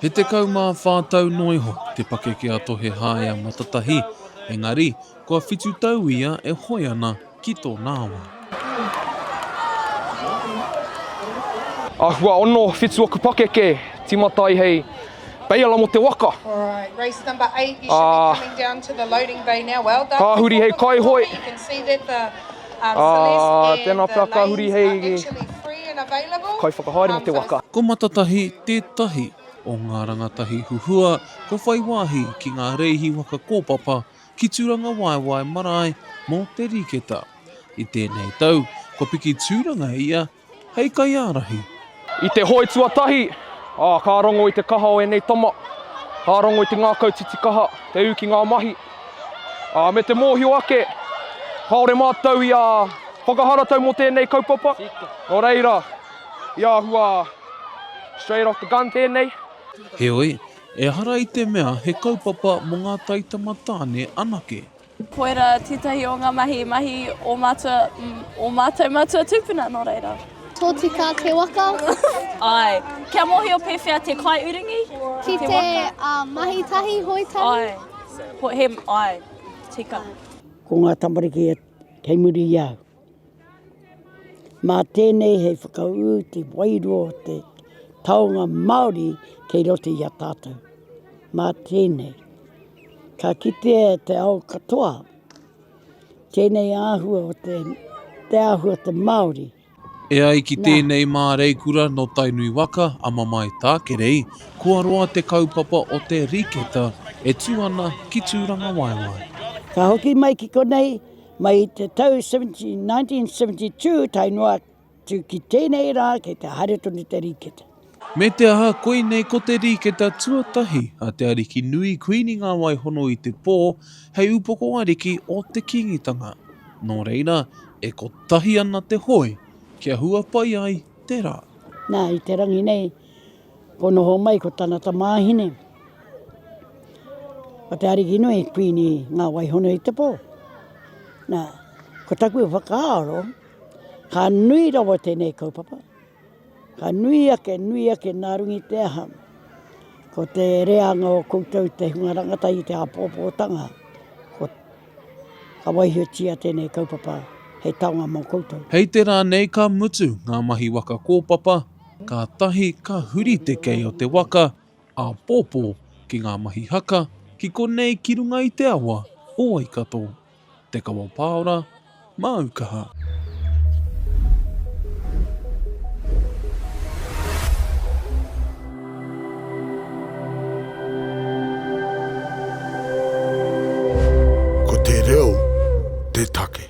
He tekau mā whā tau noa iho te pakeke a Tohe Haea Matatahi, engari, kua whitu tau ia e hoe ana ki tōna awa. Āhua ono whitu oku pakeke, timata ai hei baiala mō te waka. Ā, ka huri hei kaihoe. Ā, tēnā pea ka huri hei kaiwhakahaere mō te waka. Ko Matatahi tētahi o ngā rangatahi huhua kua whai wāhi ki ngā rēhi waka kōpapa ki Tūrangawaewae marae mō te riketa. I tēnei tau, kua piki tūranga ia hei kaiārahi. I te hoe tuatahi, ā, ka rongo i te kaha o ēnei tama, ka rongo i te ngākau titikaha, te ū ki ngā mahi, ā, me te mōhio ake, kāore mātou i ā whakaharatau mō tēnei kaupapa, nō reira, i āhua straight off the gun tēnei. Heoi, ehara i te mea he kaupapa mō ngā taitama tāne anake. Koira tētahi o ngā mahi, mahi o mātua, o mātou mātua tūpuna, nō reira. Tōtika te waka. Ai. Kia mōhio pēwhea te kaiuringi? Ki te, te uh, mahi tahi, hoi tahi. Ai. He, ai, tika. Ko ngā tamariki e kei muri i au. Mā tēnei hei whakaū te wairua o te taonga Māori kei roto i a tātou. Mā tēnei, ka kitea e te ao katoa tēnei āhua o te, te āhua o te Māori. E ai ki tēnei māreikura nō Tainui waka a Mamae Tākerei, kua roa te kaupapa o te riketa e tū ana ki Tūrangawaewae. Ka hoki mai ki konei, Mai i te tau 1972 tae noa atu ki tēnei rā kei te haere tonu te rīkete. Me te aha, koinei ko te rīkete tuatahi a te ariki nui Kuini Ngāwaihono i te pō hei upoko ariki o te Kīngitanga. Nō reira, e kotahi ana te hoe kia hua pai ai te rā. Nā, i te rangi nei, Ko noho mai ko tana tamāhine, ko Te Arikinui, Kuini ngā Waihona i te pō. Nā, ko taku whakaaro, ka nui rawa tēnei kaupapa, ka nui ake, nui ake nā runga i te aha, ko te reanga o koutou te hunga rangata i te āpōpōtanga, ko, ka waihotia tēnei kaupapa hei taonga mō koutou. Hei te rā nei ka mutu ngā mahi waka kōpapa Kātahi ka huri te kei o te waka, āpōpō, ki ngā mahi haka, ki konei ki runga i te awa o Waikato. Te Kawa Pāora, māu kaha. Ko te reo te take.